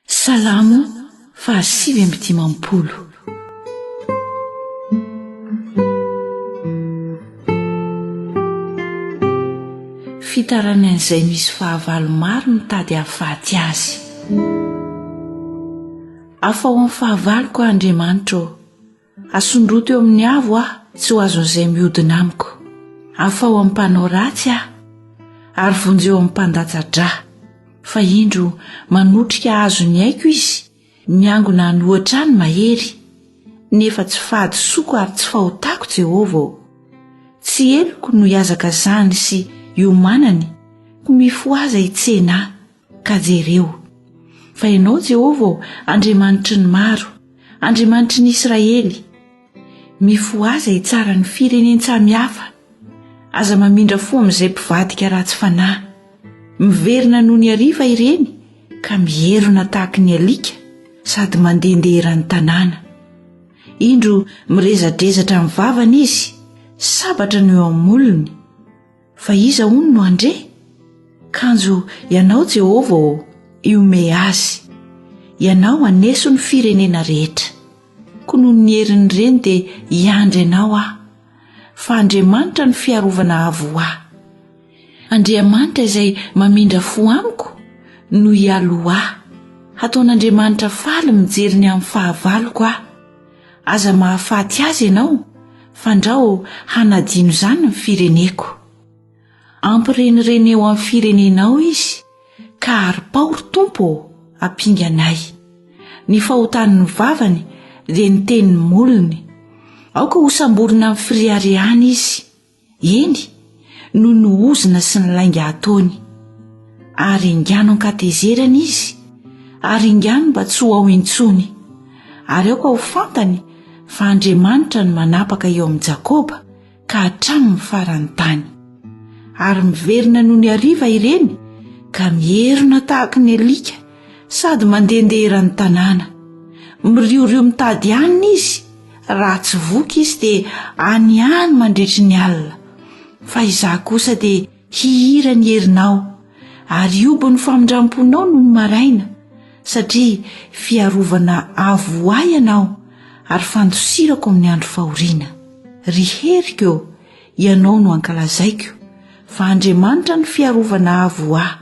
Salamo fahasivy amby dimampolo. Fitarany an'izay misy fahavalo maro mitady hahafaty azy. Afaho amin'ny fahavaloko, Andriamanitra ô! Asondroto eo amin'ny avo aho tsy ho azon'izay mihodina amiko. Afaho amin'ny mpanao ratsy aho ary vonjeo amin'ny mpandatsa-dra. Fa indro manotrika hahazo ny aiko izy, miangona hanohatra ahy ny mahery. Nefa tsy fahadisoako ary tsy fahotako Jehovah ô. Tsy heloko no hihazakazahany sy hiomanany, koa mifohaza hitsena ahy. Ka jereo, fa ianao Jehovah ô, Andriamanitry ny maro, Andriamanitry ny Israely, mifohaza hitsara ny firenen-tsamihafa, aza mamindra fo amin'izay mpivadika ratsy fanahy. Miverina noho ny hariva ireny ka mierona tahaka ny alika sady mandehandeha eran'ny tanàna. Indro mirezadrezatra amin'ny vavany izy, sabatra no eo amin'ny molony. Fa iza hono no handre? Kanjo Ianao Jehovah ô, iomehy azy. Ianao haneso ny firenena rehetra. Koa noho ny herin'ireny dia hiandry Anao aho. Fa Andriamanitra no fiarovana avo ho ahy. Andriamanitra izay mamindra fo amiko no hialoha ahy. Hataon'Andriamanitra faly mijery ny amin'ny fahavaloko aho. Aza mahafaty azy ianao, fandrao hanadino izany ny fireneko. Ampirenireneo amin'ny firenenao izy, ka aripao, ry Tompo ô, ampinga anay. Ny fahotan'ny vavany dia ny tenin'ny molony. Aoka hosamborina amin'ny firiariana izy. Eny, noho ny ozona sy ny lainga ataony. Ary engano an-katezerana izy, ary engano mba tsy ho ao intsony. Ary aoka ho fantany fa Andriamanitra no manapaka eo amin'i Jakoba ka hatramin'ny faran'ny tany. Ary miverina noho ny hariva ireny ka mierona tahaka ny alika sady mandehandeha eran'ny tanàna. Miriorio mitady hanina izy, Raha tsy voky izy dia any any mandritry ny alina, fa izaho kosa dia hihira ny herinao, ary hihobo ny famindram-ponao nony maraina, satria fiarovana avo ho ahy ianao ary fandosirako amin'ny andro fahoriana. Ry heriko ô, ianao no ankalazaiko, fa Andriamanitra no fiarovana avo ho ahy.